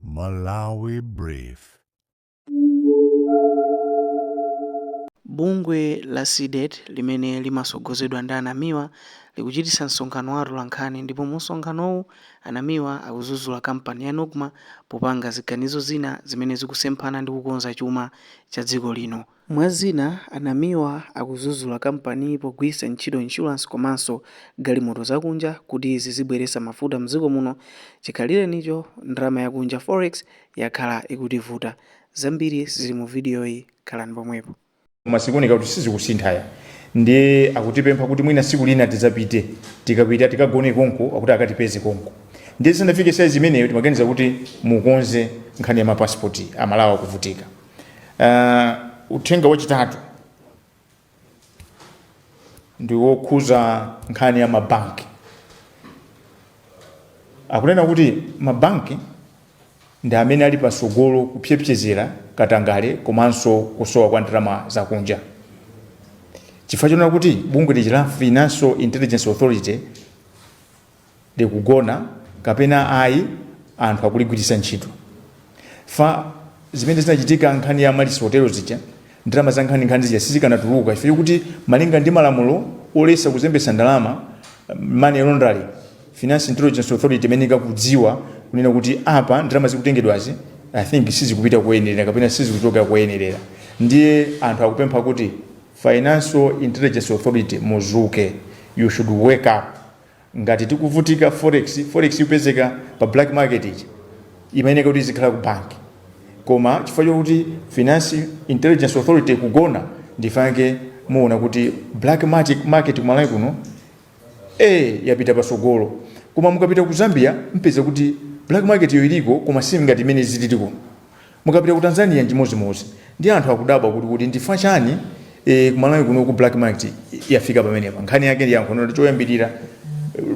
Malawi Brief. Bungwe la Cdedi limene limasogozedwa ndi a Namiwa likuchitisa msonkhano wa atolankhani ndipo mumsonkhanowu a Namiwa akuzuzula kampani ya Nocma popanga ziganizo zina zimene zikusemphana ndi kukonza chuma cha dziko lino. Mwa zina, a Namiwa akuzuzula kampaniyi pogwiritsa ntchito insurance komanso galimoto zakunja kuti zizibweretsa mafuta mdziko muno, chikhalirenicho ndalama yakunja, forex, yakhala ikutivuta. Zambiri zili mu vidiyoyi, khalani pomwepo. Koma zikuoneka kuti sizikusintha ya ndiye akutipempha kuti mwina siku lina tizapite tikapita tikagone konko akuti akatipeze konko ndiye zisanafike saizi imeneyo timaganiza kuti mukonze nkhani ya ma passport amalawi akuvutika. Uh, uthenga wachitatu ndi wokhuza nkhani ya mabanki akunena kuti mabanki ndi amene ali pasogolo kupsepsezera katangale komanso kusowa kwa ndalama zakunja chifukwa chonena kuti bungwe lija la financial intelligence authority likugona kapena ayi anthu akuligwiritsa ntchito fa zimene zinachitika nkhani ya Amaryllis hotelo zija ndalama za nkhani nkhani zija sizikanatuluka chifukwa kuti malinga ndi malamulo olesa kuzembetsa ndalama money laundering financial intelligence authority imayenera ikadziwa kunena kuti apa ndalama zikutengedwazi i think sizikupita koyenerera kapena sizikuchokera koyenerera ndiye anthu akupempha kuti financial intelligence authority muzuke you should wake up Ngati tikuvutika forex, forex ikupezeka pa black market ija imayeneka kuti izikhala ku bank koma chifukwa chokuti financial intelligence authority ikugona ndi chifukwa chake muona kuti black market kumalawi kuno eh yapita pasogolo koma mukapita ku zambia mpeza kuti black marketyo iliko koma si ngati mmene zilili kuno Mukapita ku Tanzania nchimodzimodzi ndiye anthu akudabwa kuti kodi ndifukwa chani ee kumalawi kuno ku black market yafika pamenepa nkhani yake yankho ndi loti choyambilira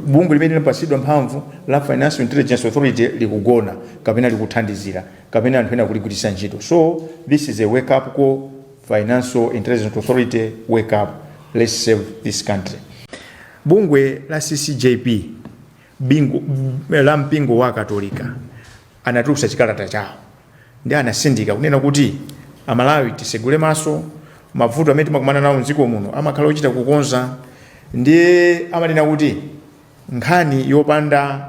bungwe limene linapatsidwa mphamvu la financial intelligence authority likugona kapena likuthandizira kapena anthu ena akuligwiritsa ntchito so this is a wake up call financial intelligence authority wake up let's save this country. Bungwe la ccjp la mpingo wa akatolika anatulutsa chikalata chawo ndi anatsindika kunena kuti amalawi tisegule maso mavuto amene timakumana nawo mdziko muno amakhala ochita kukonza ndiye amanena kuti nkhani yopanda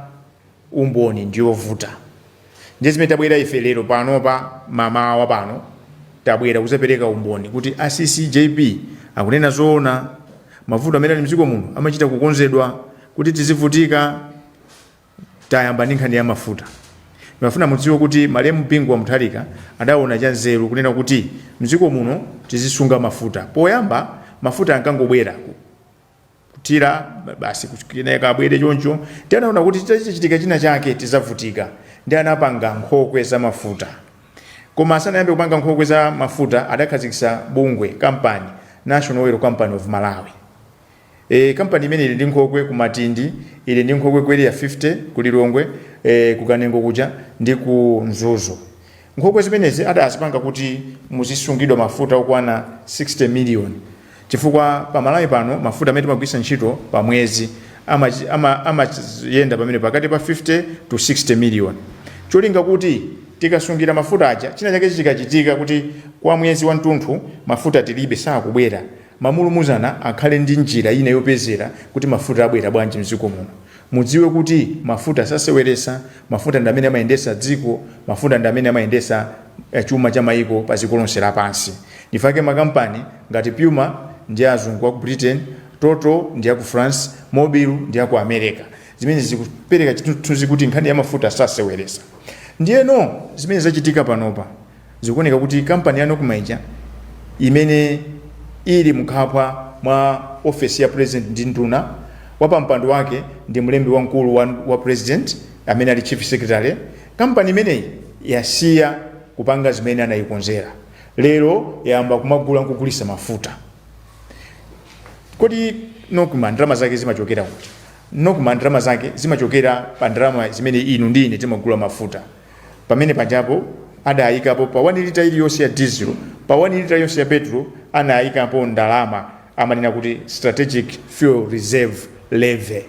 umboni ndiyovuta ndiye zimene tabwera ife lero pano pa mamawa pano tabwera kuzapereka umboni kuti a ccjp akunena zoona mavuto amene ali mdziko muno amachita kukonzedwa kuti tizivutika Tayamba ndi nkhani ya mafuta. Ndimafuna mudziwe kuti malemu Bingu wa Mutharika adaona chanzeru kunena kuti m'dziko muno tizisunga mafuta. Poyamba mafuta ankangobwera, kuthira, basi kenaka abwere choncho. Ndiye anaona kuti chitachitika china chake tidzavutika. Ndiye anapanga nkhokwe za mafuta. Koma asanayambe kupanga nkhokwe za mafuta adakhazikitsa bungwe, kampani, National Oil Company of Malawi. Eee company imene ili ndi nkhokwe ku Matindi, ili ndi nkhokwe ku Area 50, ku Lilongwe, ee ku Kanengo kuja ndi ku Mzuzu. Nkhokwe zimenezi adazipanga kuti muzisungidwa mafuta okwana 60 million chifukwa pa Malawi pano mafuta amene timagwiritsa ntchito pa mwezi amayenda pamene pakati pa 50 to 60 million cholinga kuti tikasungira mafuta aja china chake chikachitika kuti kwa mwezi wamtunthu mafuta tilibe sakubwera Mamulumuzana akhale ndi njira ina yopezera kuti mafuta abwera bwanji mdziko muno. Mudziwe kuti mafuta saseweresa, mafuta ndi amene amayendesa dziko, mafuta ndi amene amayendesa chuma cha maiko pa ziko lonse lapansi. Ndifake makampani ngati Puma ndi a azungu aku Britain, Total ndi yaku France, Mobil ndi yaku Amereka. Zimenezi zikupereka chithunzi kuti nkhani ya mafuta saseweresa. Ndiyeno zimene zachitika panopa. Zikuoneka kuti kampani ya Nocma ija imene ili mkhwapa mwa ofesi ya president ndi nduna, wapampando wake ndi mlembi wamkulu wa president amene ali chief secretary, kampani imeneyi yasiya kupanga zimene anayikonzera. Lero yayamba kumagula nkugulisa mafuta. Kodi Nocma ndalama zake zimachokera kuti? Nocma ndalama zake zimachokera pa ndalama zimene inu ndi ine timagula mafuta. Pamene pajapo adaikapo pa 1 lita iliyonse ya diesel pa 1 lita yonse ya petulo anaikapo ndalama amanena kuti strategic fuel reserve levy.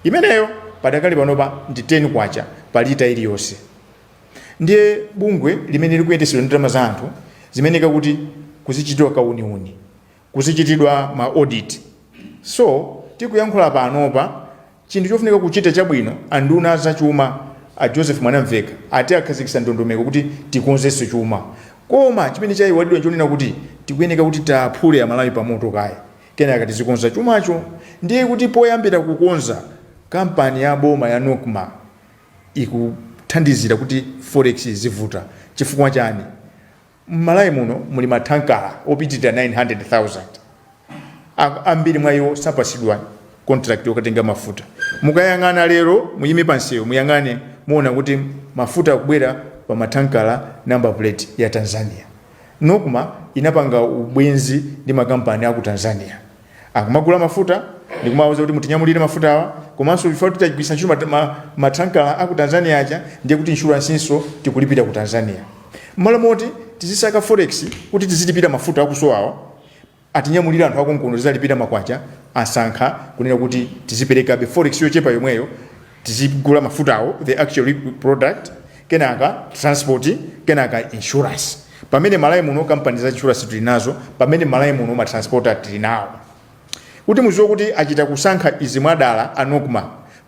Imeneyo padakali panopa ndi K10 pa lita iliyonse. Ndiye bungwe limene likuyendetsedwa ndi ndalama za anthu zimayeneka kuti kuzichitidwa kauniuni, kuzichitidwa ma audit. So tikuyankhula panopa Chinthu chofunika kuchita chabwino a nduna a za chuma a Joseph Mwanamveka ati akhazikitsa ndondomeko kuti tikonzenso chuma koma chimene chaiwalidwa nchonena kuti tikuyeneka kuti tiwaphule amalawi pamoto kaye kenaka tizikonza chumacho ndiye kuti poyambira kukonza kampani ya boma ya Nocma ikuthandizira kuti forex izivuta chifukwa chani? M'Malawi muno muli mathankala opitirira 900,000. Ambiri mwa iwo sapatsidwa kontilakiti yokatenga mafuta. Mukayang'ana lero, muyime pa msewu muyang'ane, muona kuti mafuta akubwera pa mathankala, number plate ya Tanzania. Nocma inapanga ubwenzi ndi makampani a ku Tanzania. akumagula mafuta ndikumawauza kuti mutinyamulire mafutawa komanso chifukwa kuti tagwiritsa ntchito mathankala a ku tanzania aja ndiye kuti inshuransinso tikulipira ku tanzania mmalo moti tizisaka forex kuti tizilipira mafuta akusowawa atinyamulire anthu akonkuno tizalipira makwacha asankha kunena kuti tiziperekabe forex yochepa yomweyo tizigula mafutawo the actual product kenaka transport kenaka insurance pamene malawi muno kampani za insurance tili nazo pamene malawi muno matransporta tili nawo kuti muziwe kuti achita kusankha izi mwadala anokma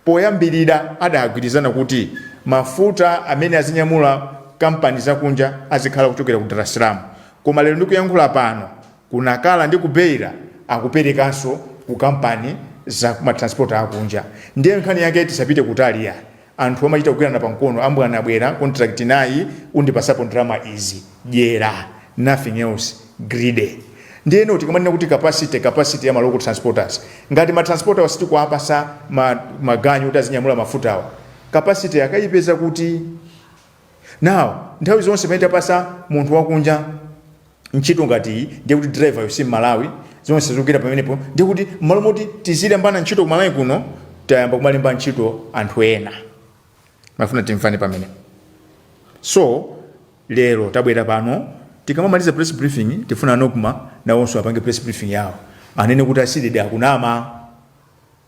poyambirira adagwirizana kuti mafuta amene azinyamula kampani zakunja azikhala kuchokera ku dar es salaam koma lero ndikuyankhula pano Ku Nacala ndi ku Beira akuperekanso ku kampani za ma transporter a kunja. Ndiye nkhani yake tisapite kutali yayi. Anthu amachita kugwirana pa mkono, a mbwana bwera contract nayi undipasapo ndalama izi. Dyera, nothing else, greedy. Ndiyeno tikamanena kuti capacity, capacity ya ma local transporters. Ngati ma transporter wa sitikuwapasa ma maganyu kuti azinyamula mafutawa, capacity akayipeza kuti? Now, nthawi zonse pamene tapasa munthu wakunja, ntchito ngati iyi ndiye kuti driver yo si mmalawi zonse zikugwera pamenepo ndiye kuti mmalo moti tizilembana ntchito ku malawi kuno tayamba kumalemba ntchito anthu ena mafuna timvane pamenepo so lero tabwera pano tikamamaliza press briefing tifuna nokma nawonso apange press briefing yawo anene kuti asidede akunama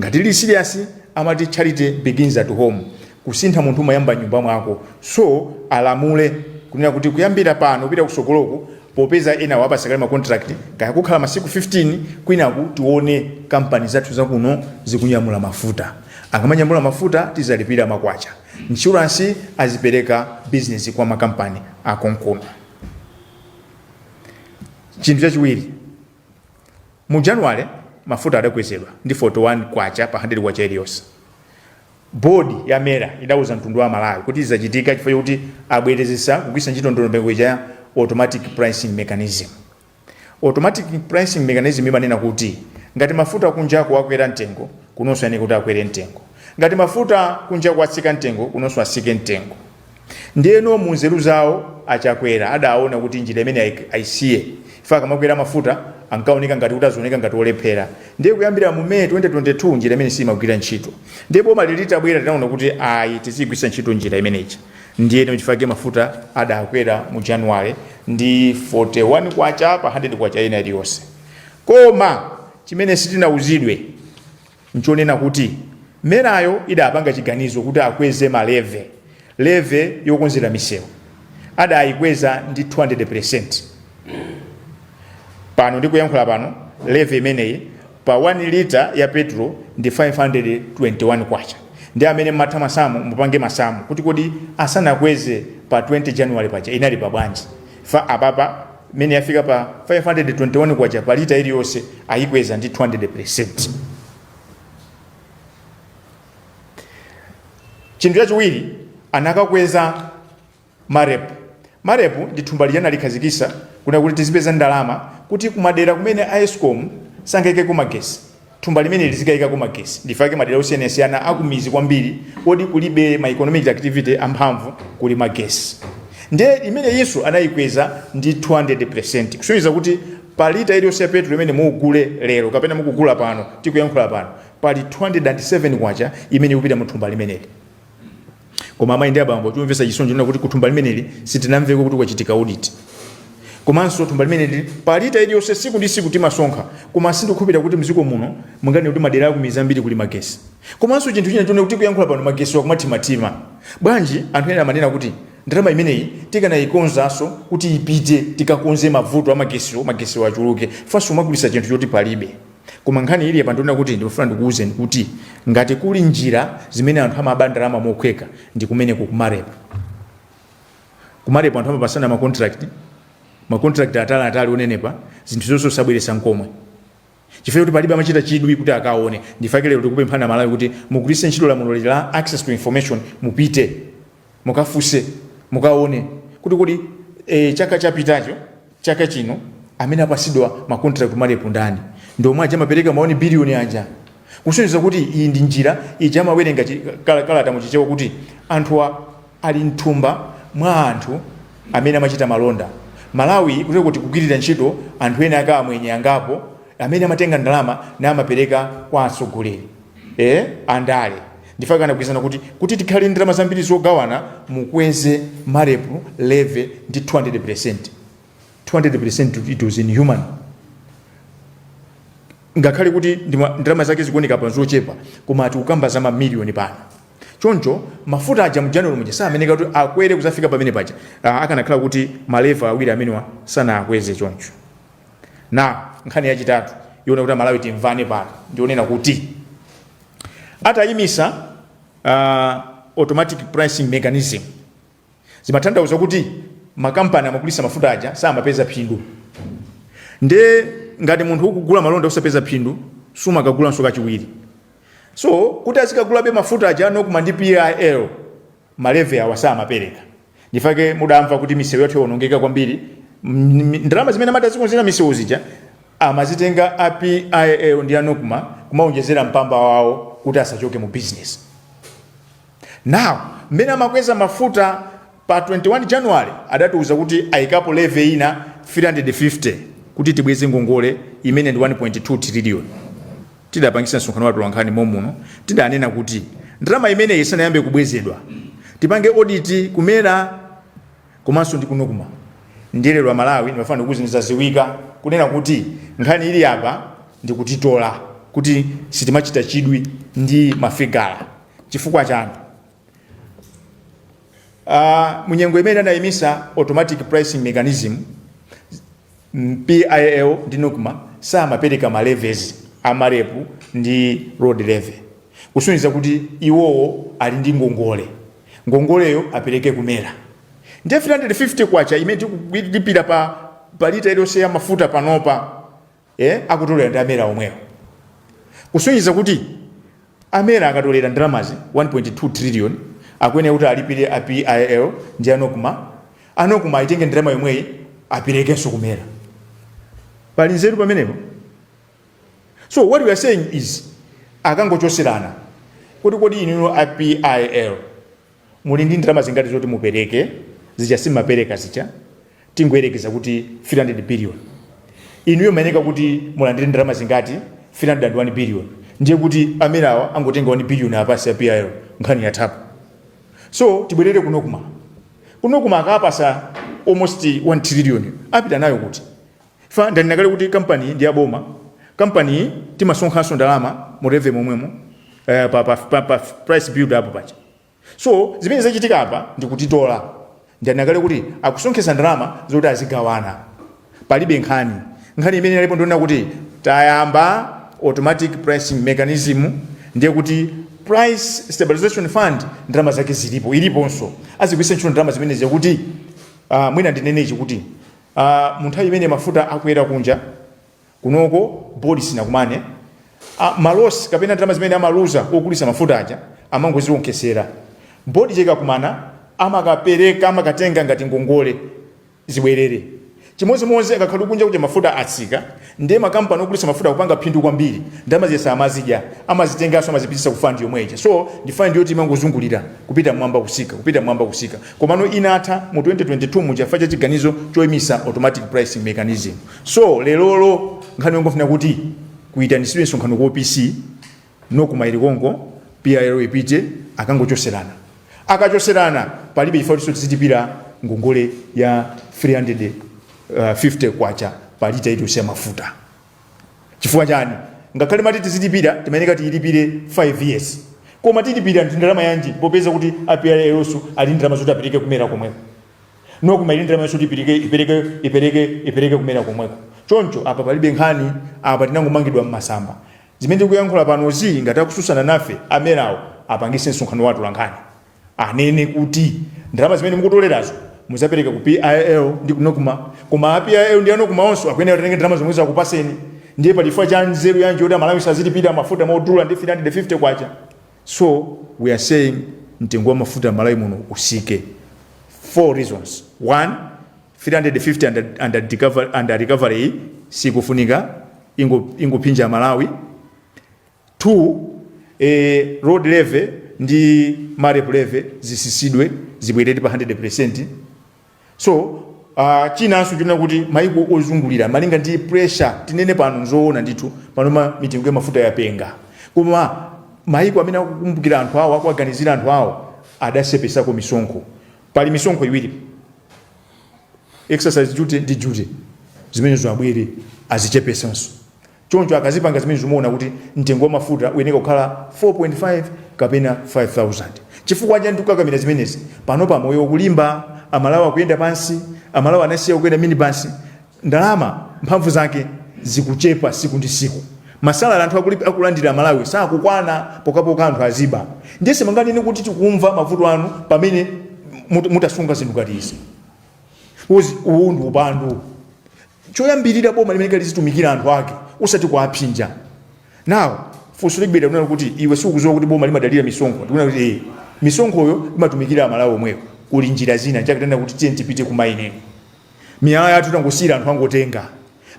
Ngati lili serious amati charity begins at home kusintha munthu umayamba mnyumba mwako so alamule kunena kuti kuyambira pano kupita kusogoloku popeza enawo apasa kale ma contract kaya kukhala masiku 15 kwinaku tione kampani zathu zakuno zikunyamula mafuta akamanyamula mafuta tizalipira makwacha insurance azipereka business kwa makampani akonkuno chinthu chachiwiri Mu January mafuta adakwezedwa ndi K41 pa handedi kwacha iliyonse. Board ya MERA idauza mtundu wa Amalawi kuti izi zachitika chifukwa chokuti abwerezesa kugwiritsa ntchito ndondomeko ija ya Automatic Pricing Mechanism. Automatic Pricing Mechanism imanena kuti ngati mafuta kunjaku akwera mtengo, kunonso ayeneka kuti akwere mtengo. Ngati mafuta kunjaku atsika mtengo, kunonso atsike mtengo. Ndiyeno mu nzeru zawo a Chakwera adaona kuti njira imeneyi ayisiye chifukwa akamakwera mafuta ankaoneka ngati kuti azioneka ngati olephera. Ndiye kuyambira mu May 2022 njira imeneyi siyimagwira ntchito. Ndiye bomali litabwera linaona kuti ayi tiziyigwiritsa ntchito njira imeneyi. Ndiyeno n'chifukwa chake mafuta adakwera mu January ndi K41 pa K100 ina iliyonse. Koma chimene sitinauzidwe. nchonena kuti merayo idapanga chiganizo kuti akweze ma leve, leve yokonzera misewu adayikweza ndi 200%. Pano ndikuyankhula pano leve imeneyi pa 1 lita ya petrol ndi 521 kwacha. Ndi amene mumatha masamu mupange masamu kuti kodi asanakweze pa 20 January paja inali pa bwanji. Chifukwa apapa imene yafika pa K521 pa lita iliyonse ayikweza ndi 200 percent. Chinthu chachiwiri anakakweza marep. Marep ndi thumba lija analikhazikitsa kunena kuti tizipeza ndalama kuti kumadera kumene a escom sangaikeko magetsi Thumba limeneli lizikayikako magetsi nchifukwa chake madera osiyanasiyana akumidzi kwambiri koti kulibe ma economic activity amphamvu kuli magetsi ndiye imeneyinso anayikweza ndi 200 kusonyeza kuti pa lita iliyonse ya petrol imene mugule lero kapena mukugula pano tikuyankhula pano pali 207 kwacha imene ikupita mu thumba limeneli koma amayi ndi abambo chomvetsa chisoni nchonena kuti kuthumba limeneli sitinamveko kuti kwachitika audit komanso thumba limeneli palita iliyonse tsiku ndi tsiku timasonkha koma sindikukhulupirira kuti mdziko muno munganene kuti madera akumidzi ambiri kuli magetsi komanso chinthu china nchonena kuti kuyankhula pano magetsiwa akumathimathima bwanji anthu ena amanena kuti ndalama imeneyi tikanayikonzanso kuti ipite tikakonze mavuto a magetsiwo magetsiwo achuluke chifukwanso umagulisa chinthu choti palibe Koma nkhani ili apa ndi yonena kuti ndikufuna ndikuwuzeni kuti ngati kuli njira zimene anthu amaba ndalama mokhweka ndi kumeneku ku marep ku marep anthu amapatsana ma contract ma contract atali atali onenepa zinthu zonse osabweretsa nkomwe chifukwa choti palibe amachita chidwi kuti akaone nchifukwa chake lero tikupempha a malawi kuti mugwiritse ntchito lamulo la access to information mupite Mukafunse, mukaone kuti kodi e, chaka chapitacho, chaka chino amene apatsidwa ma contract ku Marep ndani? Ndi omwe aja amapereka ma 1 billion aja. Kusonyeza kuti iyi ndi njira ija amawerenga chi, kal, kalata mu Chichewa kuti anthuwa ali mthumba mwa anthu amene amachita malonda. Malawi kuteroku ukuti kugwirira ntchito anthu ena ake amwenye angapo amene amatenga ndalama namapereka kwa atsogoleri. Eee andale nchifukwa chake anagwirizana kuti kuti tikhale ndalama zambiri zogawana mukweze marep levy ndi 200 percent 200 percent it was inhuman ngakhale kuti ndima- ndalama zake zikuoneka pa zochepa koma tikukamba za mamiliyoni pano choncho mafuta aja mu january muja samayenereka kuti akwere kudzafika pamene paja Ah, akanakhala kuti ma levy awiri amenewa sanakweze choncho Na nkhani yachitatu yoona kuti aMalawi timvane pano ndi yonena kuti atayimisa uh, automatic pricing mechanism zimathandauza kuti makampani amagulisa mafuta aja samapeza phindu nde ngati munthu ukugula malonda usakupeza phindu sumakagulanso kachiwiri so kuti azikagulabe mafuta aja a NOCMA ndi PIL ma levy awa samapereka ndi chifukwa chake mudamva kuti misewu yathu yaonongeka kwambiri mm, ndalama zimene amati azikonzera misewu zija amazitenga a PIL ndi a NOCMA kumaonjezera mpamba wawo kuti asachoke mu business now mmene amakweza mafuta pa 21 january adatiuza kuti ayikapo levy ina 350 kuti tibweze ngongole imene ndi 1.2 trillion Tidapangitsa msonkhano wa atolankhani mommuno, tidanena kuti ndalama imeneyi isanayambe kubwezedwa, tipange audit ku MERA komanso ndi ku Nocma. Ndiye lero Amalawi ndimafuna ndikuuzeni zaziwika kunena kuti nkhani ili apa ndikutitola kuti sitimachita chidwi ndi mafigala. Chifukwa chiyani? Aaa munyengo imene anayimisa automatic pricing mechanism, PIL ndi Nocma samapereka ma levies a Marep ndi road levy kusonyeza kuti iwowo ali ndi ngongole, ngongoleyo apereke ku MERA. Ndiye K350 imene tikulipira pa pa lita iliyonse ya mafuta panopa, ee akutolera ndi a MERA omwewo kusonyeza kuti. A MERA akatolera ndalamazi 1.2 trillion akuyenera kuti alipire a PIL ndi a Nocma, a Nocma ayitenge ndalama yomweyi aperekenso ku MERA. Pali nzeru pamenepo? So what we are saying is akangochoserana kuti kodi inuyo a PIL, Muli ndi ndalama zingati zoti mupereke? Zija simumapereka zija, tingoyerekeza kuti 300 billion. Inuyo mmayeneka kuti mulandire ndalama zingati? 301 billion. Ndiye kuti a MERA awa angotenga 1 billion apatse a PIL nkhani yathapo. So tibwerere ku Nocma. Ku Nocma akawapatsa almost 1 trillion apita nayo kuti? Chifukwa ndanena kale kuti kampaniyi ndi ya boma, kampaniyi timasonkhanso ndalama mu levy momwemo eh, pa, pa, pa, pa price build up paja. So zimene zikuchitika apa ndi kutitola. Ndanena kale kuti akusonkhetsa ndalama zoti azigawana. Palibe nkhani. Nkhani imene inalipo ndi yonena kuti tayamba automatic pricing mechanism ndiye kuti price stabilization fund ndalama zake zilipo iliponso azigwiritsa ntchito ndalama zimenezi kuti uh, mwina ndinenechi kuti Uh munthawi imene mafuta akwera kunja kunoko board sinakumane uh ma loss kapena ndalama zimene amaluza ogulisa mafuta aja amangoziwonkhesera board ija ikakumana amakapereka amakatenga ngati ngongole zibwerere chimodzimodzi akakhala kuti kunja kuja mafuta atsika Ndiye ma company ogulitsa mafuta akupanga phindu kwambiri, ndalama zija samazidya, amazitenganso amazipititsa ku fund yomwe ija. So ndi fund yoti imangozungulira kupita mmwamba kutsika, kupita mmwamba kutsika. Komano inatha mu 2022 muja chifukwa cha chiganizo choimisa automatic pricing mechanism. So lerolo nkhani yongofuna kuti kuitanisidwe msonkhano ku OPC, Nocma ili konko PIL ipite akangochoserana akachoserana palibe chifukwa choti tizilipira ngongole ya 350 kwacha pa lita iliyonse ya mafuta chifukwa chani ngakhale mati tizilipira timayeneka tiyilipire 5 years koma tilipira ndi ndalama yanji popeza kuti a PIL ali ndi ndalama zoti apereke ku MERA komweko Nocma ili ndalama yoti ipereke ipereke ipereke ipereke ku MERA komweko choncho apa palibe nkhani apa tinangomangidwa mmasamba Zimene tikuyankhula panozi ngati akususana nafe a MERA wo apangise msonkhano wa atolankhani anene kuti ndalama zimene mukutolerazo muzapereka ku PIL ndi ku Nocma koma a PIL ndi a Nocma onso akuyenera atenge ndalama zomwezo akupaseni ndiye pali chifukwa cha nzeru yanji yoti amalawi azilipira mafuta modula ndi K350 so we are saying mtengo wa mafuta mmalawi muno usike 4 reasons 1 350 under recovery iyi sikufunika ikungophinja Amalawi 2 e, road levy ndi marep levy zisisidwe zibwerere pa 100% so uh, chinanso chonena kuti maiko ozungulira malinga ndi pressure tinene pano nzoona ndithu panoma mitengo ya mafuta yapenga koma maiko amene akukumbukira anthu awo akuwaganizira anthu awo adasepesako misonkho Pali misonkho iwiri, excise duty ndi duty, zimenezo aboma azichepesenso. Choncho akazipanga zimenezo muona kuti mtengo wa mafuta uyeneka kukhala 4.5 kapena 5,000. Chifukwa chani tikukakamira zimenezi? Panopa moyo ukulimba, Amalawi akuyenda pansi, Amalawi anasiya kukwera minibasi, ndalama mphamvu zake zikuchepa siku ndi siku masalary anthu akuli- akulandira Amalawi sakukwana pokapoka anthu aziba ndiye simunganene kuti tikumva mavuto anu pamene mut- mutasunga zinthu ngati izi uzi uwu ndi upandu choyambirira boma limayeneka lizitumikira anthu ake usati kuapsinja now funso libwera kunena kuti iwe sukuziwa kuti boma limadalira misonkho ndikunena kuti ee misonkhoyo imatumikira amalawi omwewo kuli njira zina zakunena kuti tiyeni tipite ku mining miyala yathu tangosiyira anthu angotenga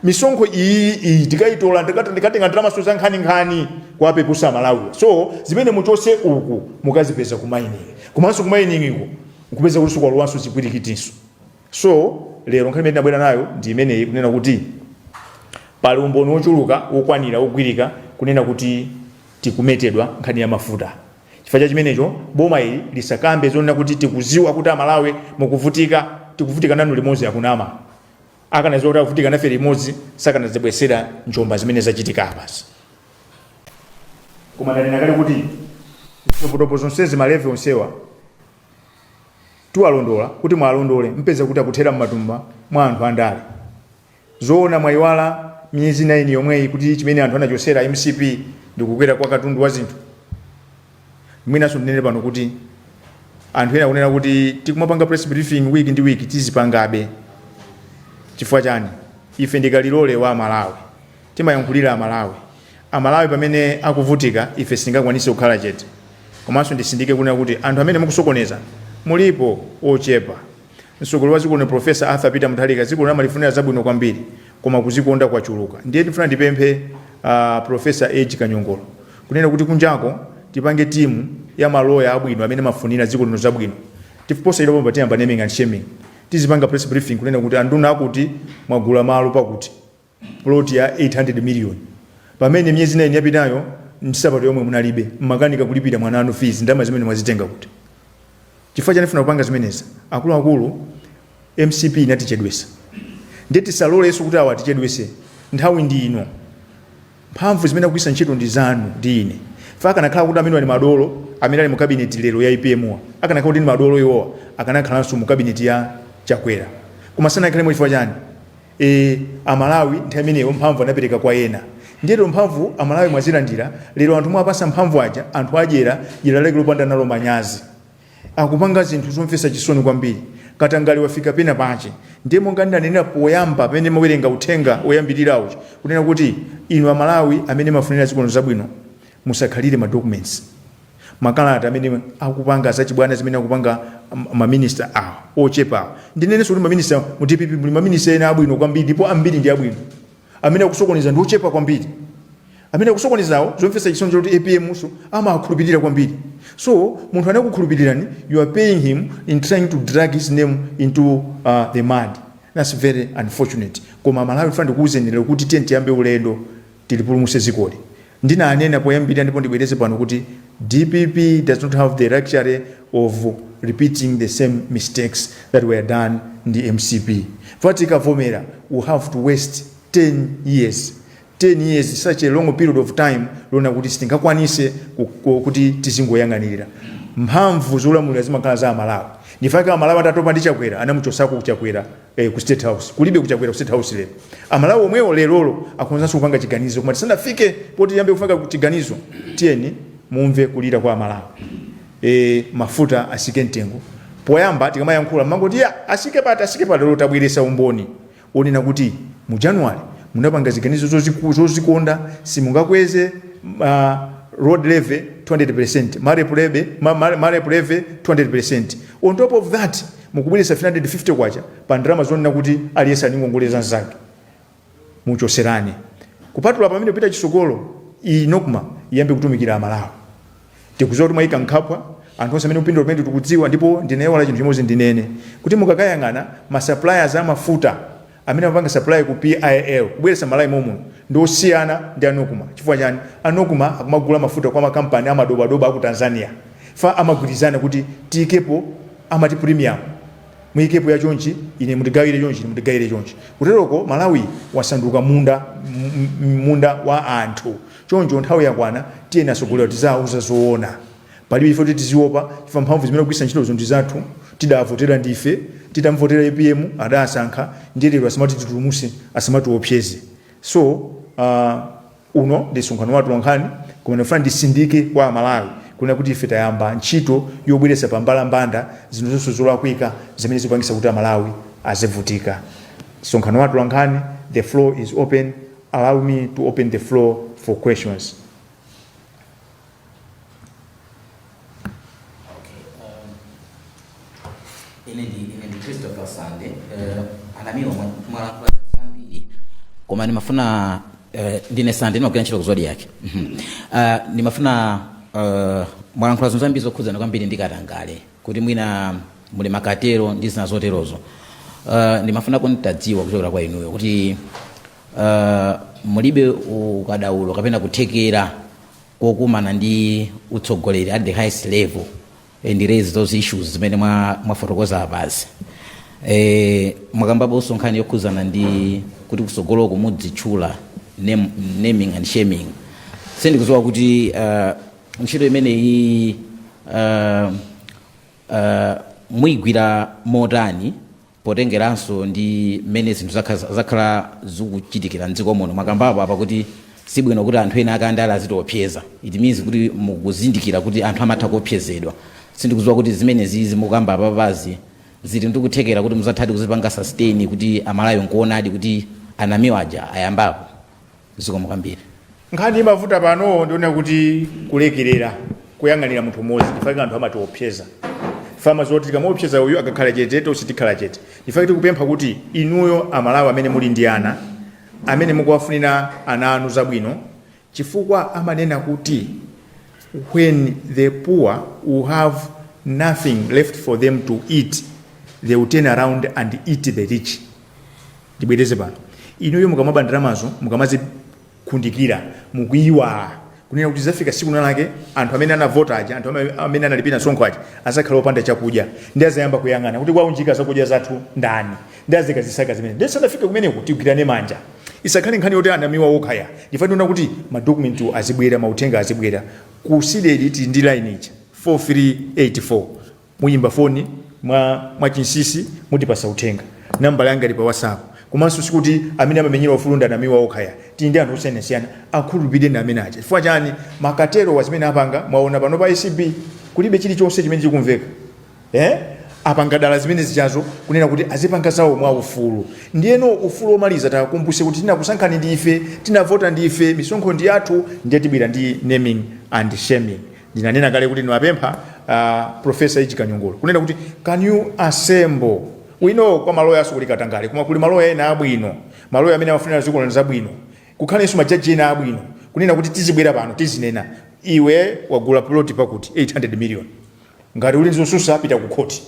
misonkho iyi iyi tikayitola ndikati- ndikatenga ndalamaso za nkhaninkhani kuwapepusa amalawiwa so zimene muchose uku mukazipeza kumayiningi komanso kumayiningiko nkupeza kuti sikwalowanso zipwirikitinso so lero nkhani imene tinabwera nayo ndi imeneyi kunena kuti pali umboni wochuluka wokwanira wogwirika kunena kuti tikumetedwa nkhani ya mafuta Chifukwa cha chimenecho boma ili lisakambe zonena kuti tikuziwa kuti amalawi mukuvutika tikuvutika nanu limodzi akunama akanaziwa kuti akuvutika nafe limodzi sakanadzibwesera njomba zimene zachitika apazi koma ndanena kale kuti zitopotopo zonsezi malevi onsewa titawalondola kuti mwalondole mpeza kuti akuthera mmatumba mwa anthu andale Zoona mwayiwala miyezi 9 yomweyi kuti chimene anthu anachosera mcp ndikukwera kwa katundu wa zinthu? Mwinanso ndinene pano kuti anthu ena akunena kuti tikumapanga press briefing week ndi week tizipangabe chifukwa chani? Ife ndi kalilole wa Amalawi, timayankhulira Amalawi. Amalawi pamene akuvutika ife sitingakwanise kukhala chete. Komanso ndisindike kunena kuti anthu amene mukusokoneza mulipo ochepa. Mtsogoleri wa dziko lino Prof. Arthur Peter Mutharika dziko lino amalifunira zabwino kwambiri koma kuzikonda kwachuluka ndiye ndifuna ndipemphe a Prof. Edge Kanyongolo kunena kuti kunjako tipange timu ya maloya abwino amene amafunira dziko lino zabwino tiyamba naming naming and shaming tizipanga press briefing kunena kuti anduna akuti mwagula malo pakuti plot ya 800 million pamene myezi 9 yapitayo nsapato yomwe munalibe mmakanika kulipira mwana wanu fees ndalama zimene mwazitenga kuti chifukwa chani funa kupanga zimenezi akuluakulu mcp inatichedwesa ndiye tisalolenso kuti awa atichedwese nthawi ndi ino mphamvu zimene akugwiritsa ntchito ndi zanu ndi ine chifukwa akanakhala kuti amene ali madolo amene ali mu kabineti lero ya apmwa akanakhala kuti ndi madolo iwowa akanakhalanso mu kabineti ya chakwera koma sanakhalemo chifukwa chani Eee amalawi nthawi imeneyo mphamvu anapereka kwa ena ndiye lero mphamvu amalawi mwazilandira lero anthu mwapasa mphamvu aja anthu adyera dyera lake lopanda nalo manyazi akupanga zinthu zomvetsa chisoni kwambiri katangale wafika pena pache ndiye monga ndinanenera poyamba pamene ndimawerenga uthenga oyambirira uja kunena kuti inu amalawi amene mafunira dziko lino zabwino musakhalire ma documents makalata amene akupanga zachibwana zimene akupanga ma minister awa ochepa awa. Ndinenenso kuti ma minister mu dpp muli ma minister ena abwino kwambiri ndipo ambiri ndi abwino. Amene akusokoneza ndi ochepa kwambiri. Amene akusokonezawo zomvetsa chisoni choti APMso amawakhulupilira kwambiri. So munthu anakukhulupirirani you are paying him in trying to drag his name into uh, the mud. That's very unfortunate. Koma Malawi funa ndikuwuzeni lero kuti tiyeni tiyambe ulendo. tilipulumuse zikoli. Ndinanena poyambirira ndipo ndibwereze pano kuti dpp does not have the luxury of repeating the same mistakes that were done ndi mcp chifukwa tikavomera we have to waste 10 years 10 years such a long period of time lona kuti sitingakwanise ku- ku- kuti tizingoyang'anirira mphamvu zolamulira zimakhala za amalawi ndichifukwa chake amalawi atatopa ndi chakwera anamuchosako chakwera eh, ku state house kulibeko chakwera ku state house lero amalawi omwewo lerolo akhonzanso kupanga chiganizo koma tisanafike poti tiyambe kufika ku chiganizo tiyeni mumve kulira kwa amalawi e, mafuta asike mtengo poyamba tikamayankhula mumangoti asike pati asike pati lero tabweresa umboni onena kuti mu january munapanga ziganizo zoziku- zozikonda simungakweze uh, road levy 200 percent marep levy ma- ma- marep levy 200 percent on top of that Mukubweretsa K350 pa ndalama zonena kuti aliyense ali ndi ngongole za mzake. Muchoserane. Kupatula pamenepo kupita chisogolo iyi Nocma iyambe kutumikira a Malawi. Tikuziwa kuti mwaika mkhwapa anthu onse amene akupindula pamenepo tikudziwa ndipo ndinaiwala chinthu chimodzi ndinene kuti mukakayang'ana ma suppliers a mafuta Amene amapanga supply ku PIL kubweretsa Malawi momuno ndi osiyana ndi a Nocma. Chifukwa chani? A Nocma akumagula mafuta kwa makampani amadobadoba aku Tanzania. Chifukwa amagwirizana kuti tiyikepo amati premium. Muyikepo ya chonchi, ine mundigawire chonchi, ine mundigayire chonchi. Kuteroko Malawi wasanduka munda, mmi, munda wa anthu. Choncho nthawi yakwana tiyeni atsogoleri tiziwauza zoona. Palibe chifukwa choti tiziopa chifukwa mphamvu zimene akugwiritsa ntchitozo ndi zathu, tidawavotera ndife, tidamuvotera apm adasankha ndiye lero asamatitutumuse, asamatiwopseze. So uh, uno ndi msonkhano wa atolankhani koma ndikufuna ndisindike kwa Amalawi kunena kuti ife tayamba ntchito yobweretsa pa mbalambanda zinthu zonse zolakwika zimene zikupangitsa kuti Amalawi azivutika. Msonkhano wa atolankhani, the floor is open. Allow me to open the floor for questions. Okay. Um, ine ndi ine ndi christopher sande uh, a namiwa mwalankhula zambiri koma ndimafuna uh, ndine sande ndimagwira ntchito ku zodiak Mhm. uh, ndimafuna uh, mwalankhula zinthu zambiri zokhudzana kwambiri ndi katangale kuti mwina muli ma cartel ndi zina zoterozo uh, ndimafuna nditadziwa kuchokera kwa inuyo kuti uh, mulibe ukadaulo kapena kuthekera kokumana ndi utsogoleri at the highest level and raise those issues zimene mwa- mwafotokoza apazi eh, mwakambaponso nkhani yokhuzana ndi kuti kusogoloko mudzitchula name, naming and shaming sindikuziwa kuti uh, ntchito imeneyi uh, uh, muyigwira motani potengeranso ndi mmene zinthu zakha- zakhala zikuchitikira mdziko muno mwakambapo apa kuti sibwino kuti anthu ena akandale azitiopseza it means kuti mukuzindikira kuti anthu amatha kuopsezedwa sindikudziwa kuti zimenezi zimukamba apapazi zili ndikuthekera kuti muzathadi kuzipanga sustain kuti Amalawi nkuonadi kuti a Namiwa aja ayambapo zikomo kwambiri nkhani imavuta pano ndiona kuti kulekerera kuyang'anira munthu umodzi ndifake anthu amatiopseza fama zoti tikamuopseza uyu akakhala chete tonse tikhala chete ndifake tikupempha kuti inuyo amalawi amene muli ndi ana amene mukuwafunira ana anu zabwino chifukwa amanena kuti when the poor will have nothing left for them to eat they will turn around and eat the rich Ndibwereze pano, inuyo mukamaba ndalamazo, mukamazikundikira, mukuiwala kunena kuti zafika siku nalake anthu amene anavota aja, anthu amene analipira msonkho aja azakhala opanda chakudya, ndi azayamba kuyang'ana kuti waunjika zakudya zathu ndani, ndi azikazisaka zimene. Ndiye sanafike kumeneko, tigwirane manja, isakhale nkhani yoti a Namiwa okha ayi ifa tiona kuti ma documentwo azibwera, mauthenga azibwera ku cdedi tili ndi line ija 4384. Muyimba foni mwa mwa chinsisi mutipasa uthenga. Nambala yanga ili pa WhatsApp. Komanso sikuti amene amamenyera ufulu ndi a Namiwa okha ayi. Tili ndi anthu osiyanasiyana. Akhulupirireni amene aja. Chifukwa chani? Ma cartelwa zimene apanga mwaona pano pa acb kulibe chili chonse chimene chikumveka. Eh? Apanga dala zimene zijazo kunena kuti azipanga zawo mwa ufulu. Ndiyeno ufulu omaliza tiwakumbuse kuti tinakusankhani ndi ife, tinavota ndi ife, misonkho ndi yathu ndiye tibwera ndi naming and shaming. ndinanena kale kuti ndimapempha uh, profesa Edge Kanyongolo kunena kuti can you assemble we know kwa maloyakoso kuli katangale koma kuli maloya ena abwino maloya amene amafunira dziko lino zabwino kukhalanso majaji ena abwino kunena kuti tizibwera pano tizinena iwe wagula ploti pakuti 800 million ngati uli ndi zosusa pita ku khoti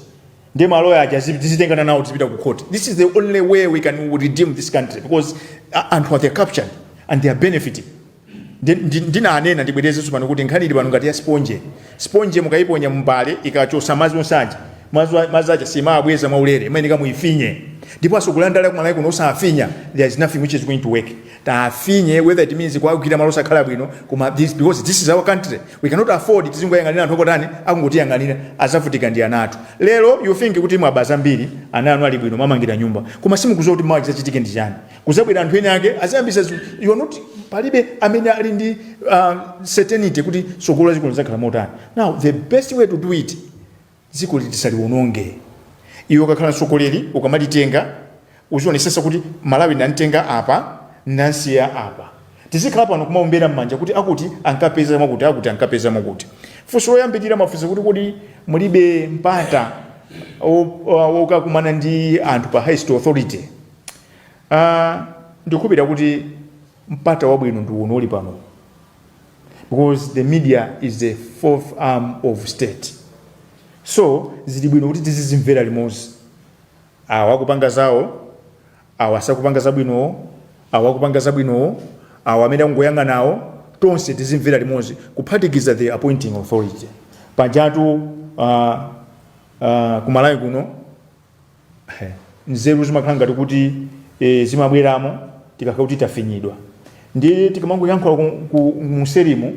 ndi maloya aja tizitengana nawo tizipita ku khoti this is the only way we can redeem this country because uh, anthu are they are captured and they are benefiting Ndinanena ndibwerezenso pano kuti nkhani ili pano ngati ya siponje. Siponje mukayiponya mumbale ikachosa madzi onse aja, madzi aja simawabweza mwaulere, imayeneka muyifinye. Ndipo atsogoleri andale aku Malawi kuno osafinya, there is nothing which is going to work. Tafinye whether it means kuwagwira malo osakhala bwino koma this because this is our country we cannot afford tizingoyang'anira anthu okutani akungotiyang'anira azavutika ndi ana athu. Lero you think kuti mwaba zambiri, ana anu ali bwino mwamangira nyumba koma simukuziwa kuti mawa chizachitike ndi chani. kuzabwera anthu ene ake aziyambisa zi- you are not, palibe amene ali ndi uh, certainty kuti tsogolo la dziko lizakhala motani now the best way to do it dziko litisaliwononge iwe ukakhala mtsogoleri ukamalitenga uzionesesa kuti malawi nantenga apa nansiya apa tizikhala pano kumaombera m'manja kuti akuti ankapeza mwakuti akuti ankapeza mwakuti funso loyambirira mafunso kuti kodi mulibe mpata o- o- okakumana ndi anthu pa highest authority A, ndikukhulupirira kuti mpata wabwino ndi uno uli pano uwu, because the media is the fourth arm of state, so zili bwino kuti tizizimvera limodzi, awa akupanga zawo, awa sakupanga zabwinowo, awa akupanga zabwinowo, awa amene akungoyang'anawo, tonse tizimvera limodzi, kuphatikiza the appointing authority. Pajatu a, a, ku Malawi kuno, He. nzeru zimakhala ngati kuti e, zimabweramo tikakhala kuti tafinyidwa ndiye tikamangoyankhula ku- ku- muserimu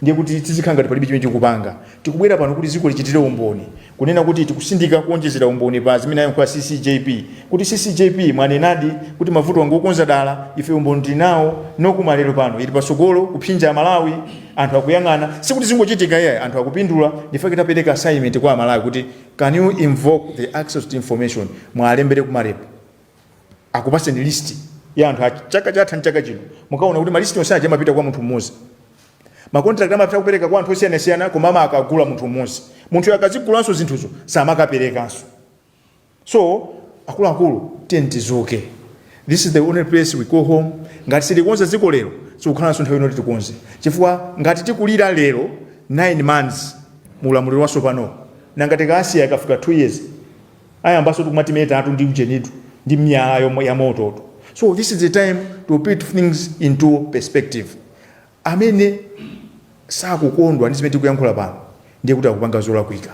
ndiye kuti tizikhala ngati palibe chimene tikupanga tikubwera pano kuti dziko lichitire umboni kunena kuti tikusindika kuonjezera umboni pa zimene ayankhula ccjp kuti ccjp mwanenadi kuti mavuto angokonza dala ife umboni tili nawo Nocma lero pano ili patsogolo kuphinja amalawi anthu akuyang'ana sikuti zingochitika iyayi anthu akupindula nchifukwa chake tapereka assignment kwa amalawi kuti Can you invoke the access to information mwalembere ku marep akupaseni list ya anthu a chaka chatha ndi chaka chino mukaona kuti malist onse aja amapita kwa munthu mmodzi makontrakt amapita kupereka kwa anthu osiyanasiyana koma amakagula munthu mmodzi munthu akazigulanso zinthuzo samakaperekanso so akuluakulu tiyeni tidzuke this is the only place we go home ngati sitilikonza dziko lero sikukhalanso nthawi ina yoti tikonze chifukwa ngati tikulira lero 9 months mu ulamuliro watsopanowu. Nanga tikawasiya akafika 2 years ayambansotu kumatimetatu ndi ujenitu ndi miyala yamototu. So this is the time to put things into perspective. Amene sakukondwa ndi zimene tikuyankhula pano ndiye kuti akupanga zolakwika.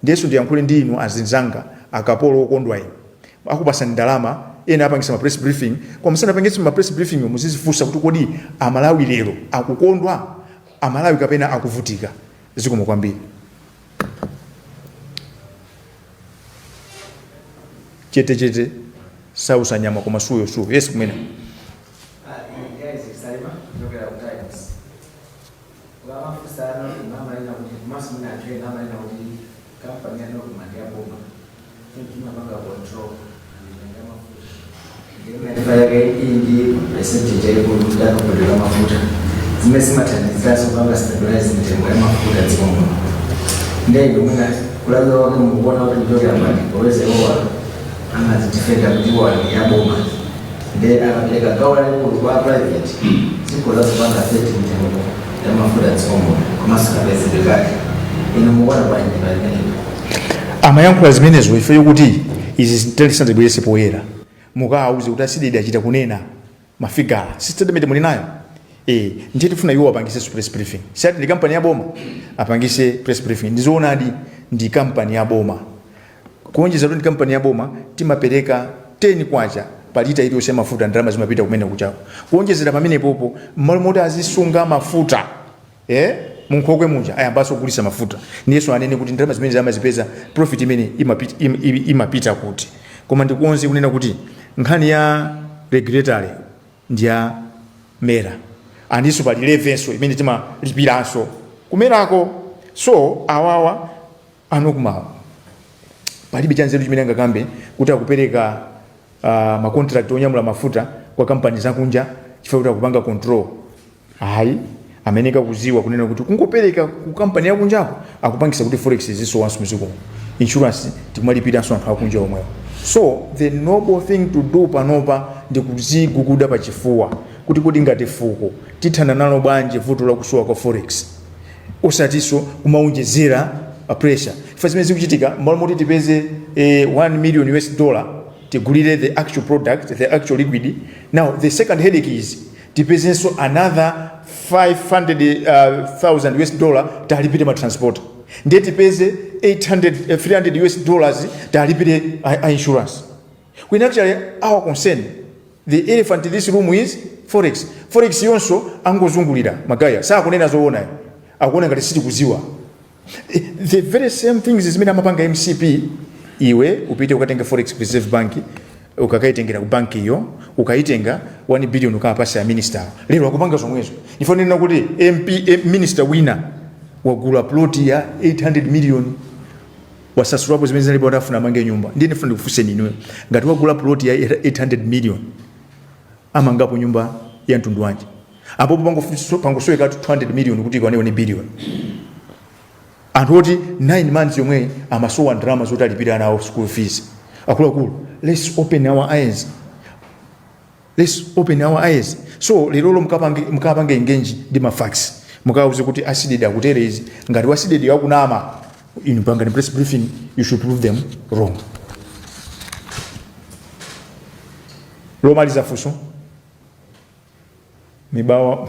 Ndiyenso ndiyankhule ndi inu azinzanga akapolo okondwa inu. Akupasani ndalama ena apangisa ma press briefing koma musanapangitse ma press briefing muzizifunsa kuti kodi amalawi lero akukondwa amalawi kapena akuvutika zikomo kwambiri chete chete sausa nyama koma suyo suyo yes kumene Vamos a empezar, vamos a ir a un más una que vamos a ir a un kampani ya Nocma ndi ya boma choncho imapanga control ndi ya mafuta ndimaifa yake iyi ndi percentage yaikulu kuti amaimpotera mafuta zimene zimathandizanso kupanga stabilize mitengo ya mafuta dziko muno ndiye ndimwina kulabula wake mukuona kuti kuchokera mbali poweza iwowa amazidifenda kuti iwowa ndi ya boma nde akapereka gawo lalikulu kwa private dziko lazipanga set mitengo ya mafuta tsono komanso kapezedwe kake inu mukuona bwanji palimeneko amayankhula zimenezo ifeyo kuti izi zitalisandibwerese poyera mukawauze kuti a cdedi achita kunena mafigala si statement muli nayo eh ndiye tifuna iwo apangise su press briefing si ati ndi kampani ya boma apangise press briefing ndizoonadi ndi kampani ya boma Kuonjezera kuti ndi kampani ya boma, timapereka K10 pa lita iliyonse ya mafuta, ndalama zimapita kumene kujako. Kuonjezera pamenepopo, m'malo moti azisunga mafuta ee munkhokwe muja, ayambanso kugulitsa mafuta. Ndiyenso anene kuti ndalama zimene amazipeza, profit imeneyi imapit, im, im, imapita kuti? Koma ndikonze kunena kuti nkhani ya regulatory ndi ya MERA andinso pali levynso imene timalipiranso ku MERAko. So awawa. a nocmawa palibe chanzeru chimene angakambe kuti akupereka uh, macontract onyamula mafuta kwa kampani zakunja chifukwa kuti akupanga control ayi ayeneka kuziwa kunena kuti kungopereka ku kampani yakunjako akupangisa kuti forex izisowanso mzikomo insurance tikumalipiranso anthu akunja omwewo so the noble thing to do panopa ndi kuziguguda pa chifuwa kuti kodi ngati fuko tithana nalo bwanji vuto lakusowa kwa forex osatinso kumawonjezera pressure chifukwa zimene zikuchitika mmalo moti tipeze eh, 1 million us dollar tigulire the actual product the actual liquid now the second headache is tipezenso another 500,000 uh, us dollar talipire ma transporter ndiye tipeze 800 eh, 300 us dollars talipire a, a insurance When actually our concern the elephant in this room is forex. Forex yonso angozungulira magaye sakunena zoona ayi. akuona ngati sitikuziwa Eh, the very same things zimene amapanga mcp iwe upite ukatenge forex ku reserve bank ukakaitengera ku banki iyo ukaitenga 1 billion ukawapase a minister awo. lero akupanga zomwezo ndifuna kunena kuti mp eh, minister wina wagula plot ya 800 million Wasasulapo zimene zinalipo kuti afuna amange nyumba. Ndiye ndifuna ndikufunseni inuyo, ngati wagula puloti ya 800 miliyoni, amangapo nyumba ya mtundu wanji? Apopo pangofu- pangosowekatu 200 miliyoni kuti ikwane 1 biliyoni. Anthu oti 9 months yomweyi amasowa ndalama zoti alipire ana awo school fees. Akuluakulu, let's open our eyes. Let's open our eyes so lerolo mkapange, mkapange engage ndi ma facts mukauze kuti a cdedi akutere izi ngati wa cdedi akunama inu pangani press briefing you should prove them wrong lomaliza funso mibawa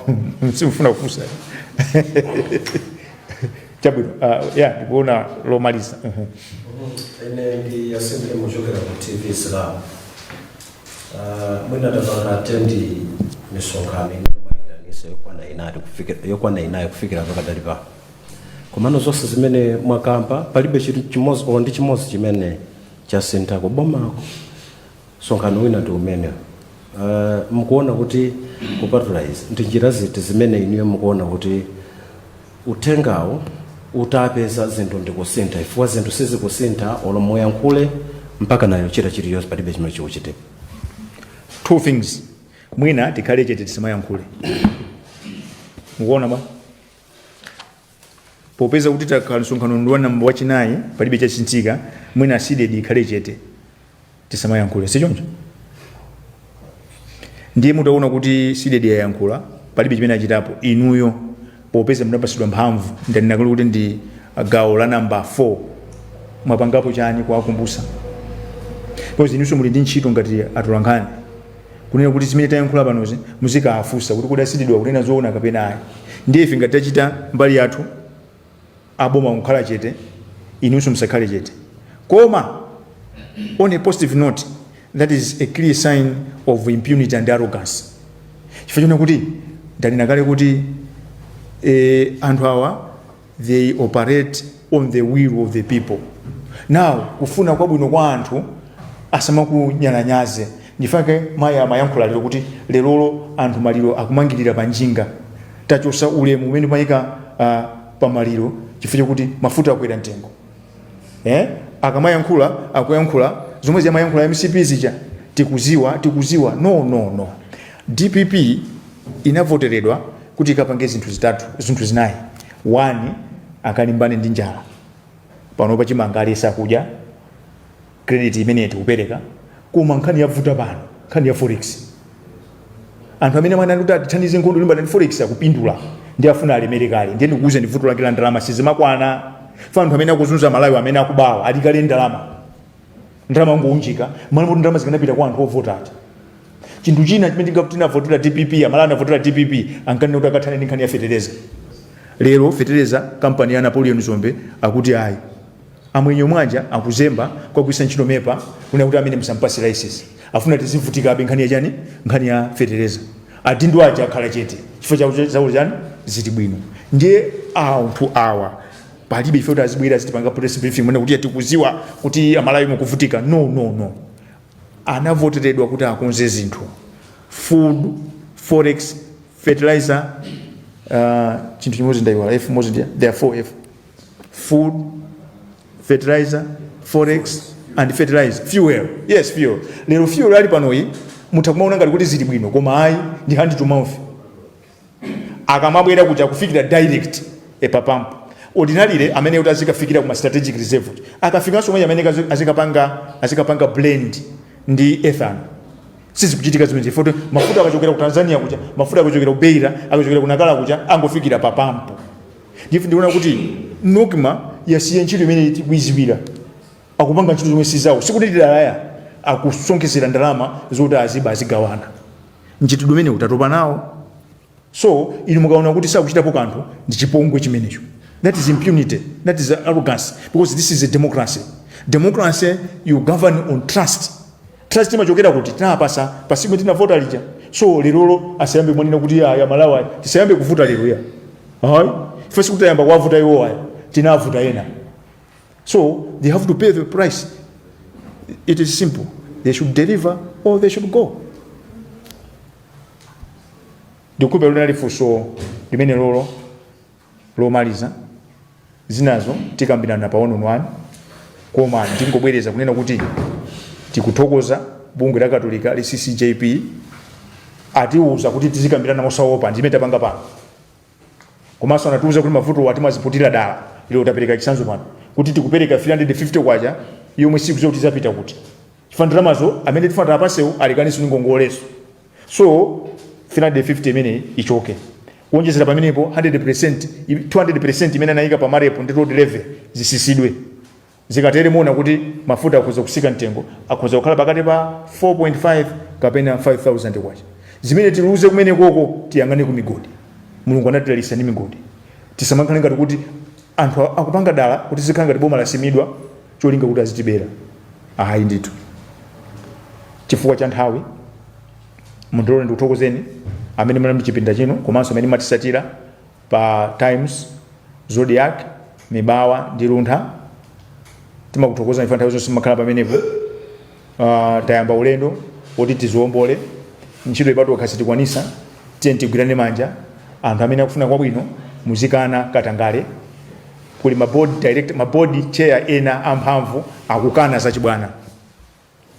simfuna kufunsa chabwino uh, ya ndikuona lomaliza Mhm. ine ndi yasembe muchokera ku tv islam Ah, mwina tapanga attend misonkhano imene mwaitanisa yokwana inayi kufikira- yokwana inayi kufikira pakadali pano komano zonse zimene mwakamba palibe chinthu chimodzi olo ndi chimodzi chimene chasintha kubomako Msonkhano wina ndi umenewu. Mukuona kuti kupatula izi, ndi njira ziti zimene inuyo mukuona kuti uthengawu utapeza zinthu ndikusintha chifukwa zinthu sizikusintha olo muyankhule mpakana yochita chilichonse palibe chimene chikuchitika. Two things, mwina tikhale chete tisamayankhule. Mukuona bwa? popeza kuti takhala msonkhano ndi wa namba wachinayi palibe chasinthika mwina cdedi ikhale chete tisamayankhule si choncho ndiye mutaona kuti cdedi yayankhula palibe chimene achitapo inuyo popeza mudapatsidwa mphamvu ndanena kale kuti ndi gawo la namba 4 mwapangapo chani kuwakumbutsa because inunso muli ndi ntchito ngati atolankhani kunena kuti zimene tayankhula panozi muzikaafunsa kuti kodi a cdediwa kunena zoona kapena ayi ndiye ife ngati tachita mbali yathu aboma kukhala chete inunso musakhale chete koma on a positive note that is a clear sign of impunity and arrogance chifukwa choona kuti ndanena kale kuti eh, anthu awa they operate on the will of the people now kufuna kwabwino kwa anthu asamakunyalanyaze ndi chifukwa chake mayi amayankhula lero kuti lerolo anthu maliro akumangirira pa njinga tachosa ulemu umene timayika uh, pa maliro chifukwa chakuti mafuta akwera mtengo eh? akamayankhula akuyankhula zomwe amayankhula a mcp zija tikuziwa tikuziwa no no no dpp inavoteredwa kuti ikapange zinthu zitatu zinthu zinayi one akalimbane ndi njala panopa chimanga aliyense akudya credit imene tikupeleka koma nkhani yavuta pano nkhani ya forex anthu amene timaona kuti atithandize nkhondo yolimbana ndi forex akupindula ndi afuna alemere kale ndiye ndikuuze ndi vuto lake la ndalama sizimakwana chifukwa anthu amene akuzunza malawi amene akubawa ali kale ndalama ndalama ngounjika mwana kuti ndalama zikanapita kwa anthu ovota aja chinthu china chimene tinga- tinavotera dpp amalawi anavotera dpp ankanena kuti akathane ndi nkhani ya fetereza lero fetereza kampani ya napoleon dzombe akuti ayi Amwenye omwe aja akuzemba kuwagwiritsa ntchito MEPA kunena kuti ameneyu musampatse licence. Afuna tizivutikabe nkhani ya chani? Nkhani ya fetereza. Adindo aja akhala chete chifukwa chakuti zawo chani? Zili bwino. Ndiye anthu awa palibe ife kuti azibwera azitipanga press briefing kunena kuti tikudziwa kuti Amalawi mukuvutika. No, no, no. Anavoteredwa kuti akonze zinthu. Food, forex, fertilizer, uh, chinthu chimodzi ndaiwala, F imodzi ndi ya, there are 4F. food, fertilizer, forex and fertilizer, fuel. Yes, fuel. Lero fuel ali panoyu mutha kumaona ngati kuti zili bwino koma ayi ndi hand to mouth. Akamabwera kuja kufikira direct pa pump. Ordinarily amayenera kuti azikafikira kuma strategic reserve. Akafika konko amayenera azikapanga azikapanga blend ndi ethanol. Sizikuchitika zimenezi poti mafuta akachokera ku Tanzania kuja, mafuta akachokera ku Beira, akachokera ku Nacala kuja angofikira pa pampu. ndiye ndiona kuti NOCMA yasiya ntchito imene tikuidziwira akupanga ntchito zomwe si zawo sikuti dala ayi akusonkhetsera ndalama zoti aziba azigawana mchitidwe umene utatopa nawo so inu mukaona kuti sakuchitapo kanthu ndi chipongwe chimenecho that is impunity that is arrogance because this is democracy democracy you govern on trust Trust imachokera kuti tinapatsa pa tsiku tinavota lija. So lero asayambe kumanena kuti a Amalawi tisayambe kuvuta lero ya. Ayi. First kuti tiyambe kuwavuta iwo ayi. Tinavotera ena. So they have to pay the price. It is simple. They should deliver or they should go. Ndikukhulupirira funso limenelolo lomaliza zinazo tikambirana pa one on one koma ndingobwereza kunena kuti tikuthokoza bungwe la katolika la ccjp atiuza kuti tizikambirana mosaopa ndimene tapanga pano komanso anatiuza kuti mavuto atimaziputira dala ilo tapereka chitsanzo pano kuti tikupereka 350 kwacha yomwe sitikudziwa kuti izapita kuti chifukwa ndalamazo amene tifuna tiwapatsewo alipakonso ndi ngongolezo so 350 imeneyi ichoke kuonjezera pamenepo 100% i- 200% imene anayika pa MAREP ndi road levy zitsitsidwe zikatere muona kuti mafuta akhoza kutsika mtengo akhoza kukhala pakati pa 4.5 kapena 5000 kwacha zimene tiluze kumenekoko tiyang'ane ku migodi mulungu anatidalitsa ndi migodi tisamakhale ngati kuti anthu akupanga dala kuti zizikhala ngati boma lasimidwa cholinga kuti azitibera ayi ndithu chifukwa cha nthawi mundilole ndikuthokozeni amene munali mchipinda chino komanso amene mumatitsatira pa times zodiac mibawa ndi luntha timakuthokozani chifukwa nthawi zonse mumakhala pamenepo Tayamba ulendo woti tiziwombole ntchito iyi patokha sitikwanisa tiyeni tigwirane manja anthu amene akufuna kwabwino muzikana katangale kuli mabodi chair ena amphamvu akukana zachibwana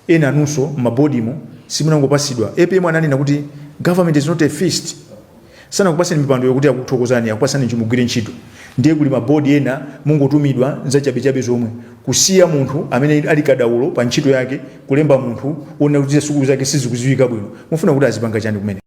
ena anunso mmabodimo simunangopasidwa apm ananena kuti government is not a feast Sanakupaseni mipandoyo kuti akuthokozeni akupasani kuti mugwire ntchito ndiye kuli ma board ena mungotumidwa zachabechabe zomwe kusiya munthu amene ali kadaulo pa ntchito yake kulemba munthu wonena kuti sukulu zake sizikuziwika bwino mufuna kuti azipanga chani kumeneko?